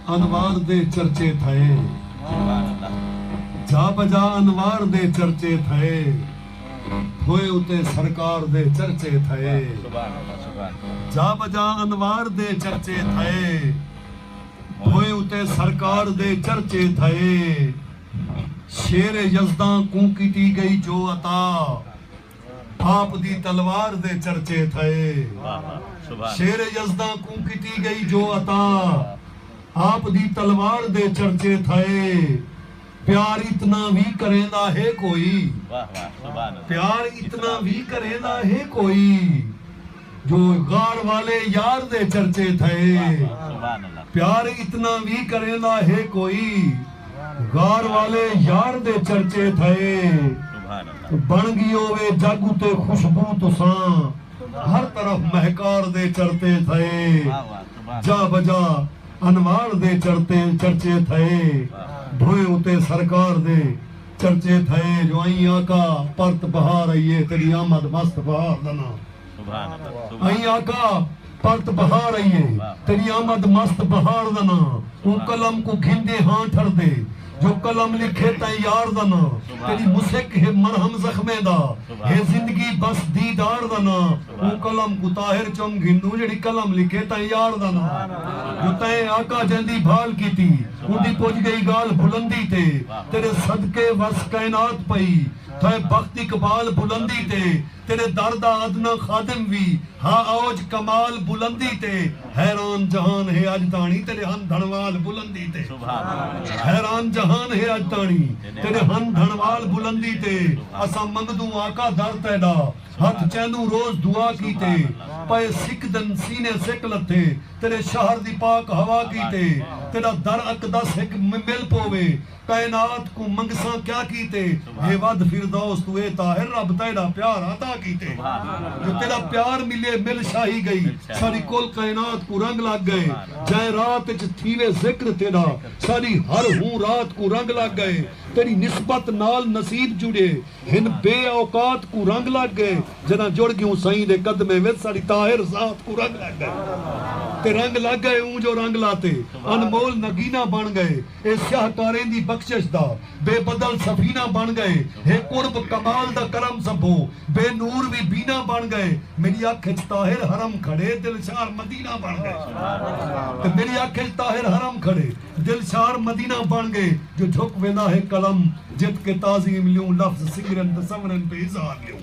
انوار دے چرچے تھئے۔ جا بجا انوار دے چرچے تھئے۔ تھوئے اتے سرکار دے چرچے تھئے۔ جا بجا انوار دے چرچے تھئے۔ تھوئے اتے سرکار دے چرچے تھئے۔ شیر یزداں کوں کیتی گئی جو عطا۔ آپ دی تلوار دے چرچے تھئے۔ شیر یزداں کوں کیتی گئی جو عطا۔ آپ دی تلوار دے چرچے تھئے۔ پیار اتنا وی کریندا ہے کوئی۔ پیار اتنا وی کریندا ہے کوئی۔ جو غار والے یار دے چرچے تھئے پیار اتنا وی کریندا ہے کوئی غار والے یار دے چرچے تھئے بن گیو وے جگ اتے خوشبو تساں ہر طرف مہکار دے چرتے تھئے جا بجا انوار دے چرتے چرچے تھئے بھوئیں اتے سرکار دے چرچے تھئے جو ائیں آقا پرت بہار آئی ہے تیڈی آمد مست بہار دا ناں سبحان اللہ ائیں آقا پرت بہار آئی ہے تیڈی آمد مست بہار دا ناں اوں قلم کوں گھندے ہاں ٹھردے جو قلم لکھے تیں یار دا ناں تیڈی مسک ہے مرہم زخمیں دا ہے زندگی بس دیدار دا ناں اوں قلم کوں طاہر چم گھندوں جیڑھی قلم لکھے تاں یار دا ناں جو تئیں آقا جیندی بھال کیتی اوندی پج گئی گالھ بلندی تے تیڈے صدقے وس کائنات پئی تھئے بخت اقبال بلندی تے تیڈے در دا ادنی خادم وی ہا اوج کمال بلندی تے حیران جہان ہے اج تاݨی تیڈے ہن دھنوال بلندی تے حیران جہان ہے اج تاݨی تیڈے ہن دھنوال بلندی تے اساں منگدوں آقا در تیڈا ہتھ چیندوں روز دعا کیتے پئے سکدن سینے سک لتھے تیݙے شہر دی پاک ہوا کیتے تیݙا در اقدس ہک مل پووے کائنات کوں منگساں کیا کیتے ہے ودھ فردوس توں اے طاہر رب تیݙا پیار عطا کیتے جو تیݙا پیار ملے مل شاہی ڳئی ساݙی کل کائنات کوں رنگ لڳ ڳئے جئیں رات اچ تھیوے ذکر تیݙا ساݙی ہر ہوں رات کوں رنگ لڳ ڳئے تیݙی نسبت نال نصیب جڑیے ہن بے اوقات کوں رنگ لگ گئے جداں جڑ گیوں سئیں دے قدمیں وچ ساڈی طاہر ذات کوں رنگ لگ گئے تے رنگ لگ گئے اوں جو رنگ لاتے انمول نگینہ بن گئے اے سیاہ کاریں دی بخشش دا بے بدل سفینہ بن گئے ہے قرب کمال دا کرم سبھو بے نور وی بینا بن گئے میڈی اکھ اچ طاہر حرم کھڑے دلشار مدینہ بن گئے تے میڈی اکھ اچ طاہر حرم کھڑے دلشار مدینہ بݨ ڳئے جو جھک ویندا ہے قلم جت کے تعظیم لیوں لفظ سنگرن تے سنورن تے اظہار لیوں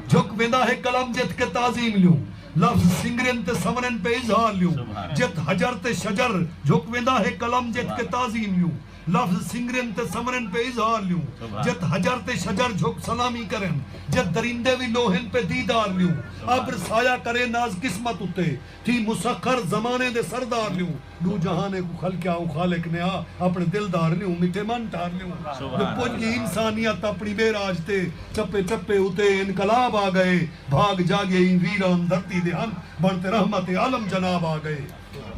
جھک ویندا ہے قلم جت کے تعظیم لیوں لفظ سنگرن تے سنورن تے اظہار لیوں جت حجر تے شجر جھک ویندا ہے قلم جت کے تعظیم لیوں لفظ سنگرن تے سنورن تے اظہار لیوں جت حجر تے شجر جھک سلامی کرن جت درندے وی لوہن تے دیدار لیوں ابر سایہ کرے ناز قسمت اتے تھی مسخر زمانے دے سردار لیوں ݙو جہانیں کوں خلقیا اوں خالق نے آ اپݨے دل دھار لیوں مٹھے من ٹھار لیوں جو پڄ ڳی انسانیت اپݨی معراج تے چپے چپے اتے انقلاب آ ڳئے بھاڳ جاڳئے ایں ویران دھرتی دے ہنجھ بݨ تے رحمت عالم جناب آ ڳئے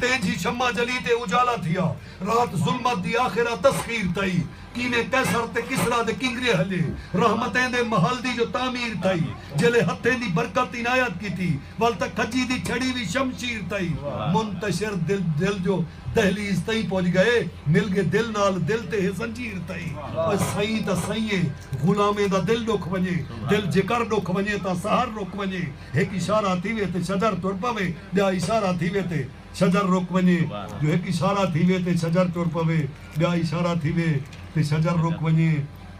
تینجھی شمع جلی تے اجالا تھیا رات ظلمت دی آخر آ تسخیر تئی کیویں قیصر تے کسریٰ دے کنگرے ہلے رحمتیں دے محل دی جو تعمیر تھئی جیلے ہتھیں دی برکت عنایت کیتی ول تاں کھجی دی چھڑی وی شمشیر تھئی منتشر دل دل جو دہلیز تئیں پج گئے مل گے دل نال دل تے ہے زنجیر تھئی او سئیں تاں سئیں غلامیں دا دل ڈکھ ونجے دل جیکر ڈکھ ونجے تاں سحر رک ونجے ہک اشارہ تھیوے تے شجر ٹر پوے ٻیا اشارہ تھیوے تے شجر رک ونڄے جو ہک اشارہ تھیوے تے شجر ٹر پوے، ٻیا اشارہ تھیوے تے شجر رک ونڄے۔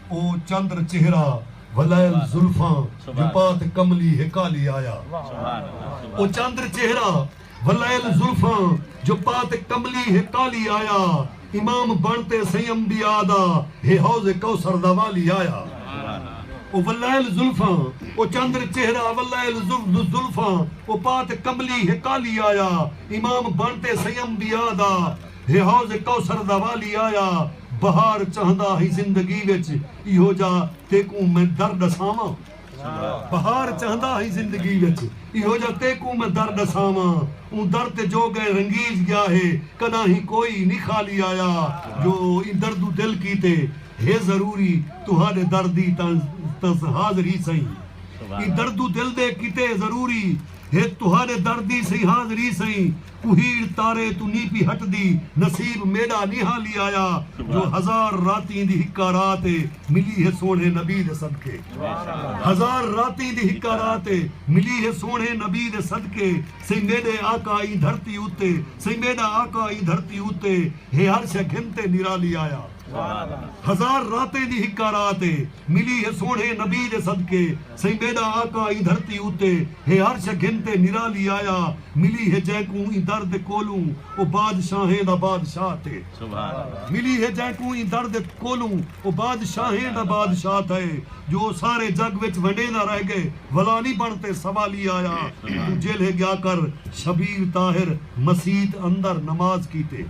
او چندر چہرہ ولائل زلفاں جو پات کملی ہے کالی آیا۔ او چندر چہرہ ولائل زلفاں جو پات کملی ہے کالی آیا۔ امام بݨ تے سئیں انبیاء دا ہے حوض کوثر دا والی آیا او ولائل زلفاں او چندر چہرہ ولائل ذو زلفاں او پات کملی ہے کالی آیا امام بݨ تے سئیں انبیاء دا ہے حوض کوثر دا والی آیا بہار چاہندا ہئی زندگی وچ ایہو جا تیکوں میں در ݙساواں۔ بہار چہندا ہئی زندگی وچ ایہو جا تیکوں میں در ڈساواں اوں در تے جو گئے رنگیج گیا ہے کڈاہیں کوئی نی خالی آیا جو ایں دردو دل کیتے ہے ضروری تہاڈے در دی تاں حاضر ہی سئیں ایں دردو دل دے کیتے ضروری ہے تہاڈے در دی سئیں حاضر ہی سئیں کوہیڑ تارے توں نی پی ہٹدی نصیب میڈا نی ہا لی آیا جو ہزار راتیں دی ہکا رات اے ملی ہے سوہنڑے نبی دے صدقے ہزار راتیں دی ہکا رات اے ملی ہے سوہنڑے نبی دے صدقے سئیں میڈے آقا ایں دھرتی اتے سئیں میڈا آقا ایں دھرتی اتے ہے ہر شے گھن تے نرالی آیا۔ ہزار راتیں دی ہکا رات اے ملی ہے سوہݨے نبی دے صدقے سئیں میݙا آقا ایں دھرتی اتے ہے ہر شئے گھن تے نرالی آیا ملی ہے جئیں کوں ایں در دے کولوں او بادشاہیں دا بادشاہ تھئے ملی ہے جئیں کوں ایں در دے کولوں او بادشاہیں دا بادشاہ تھئے جو او سارے جگ وچ ونڈیندا رہ ڳئے ولا نی بݨ تے سوالی آیا توں جیلھے ڳیا کر شبیر طاہر مسیت اندر نماز کیتے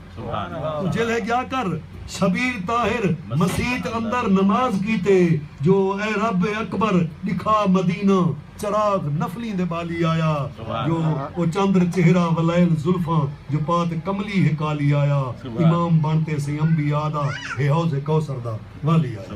جیلھے ڄا کر سبیل طاہر مسیت اندر نماز کیتے جو اے رب اکبر ݙکھا مدینہ چراغ نفلیں دے ٻالی آیا جو او چندر چہرہ ولیل زلفاں جو پات کملی ہے کالی آیا امام بݨ تے سئیں انبیاء دا ہے حوض کوثر دا والی آیا۔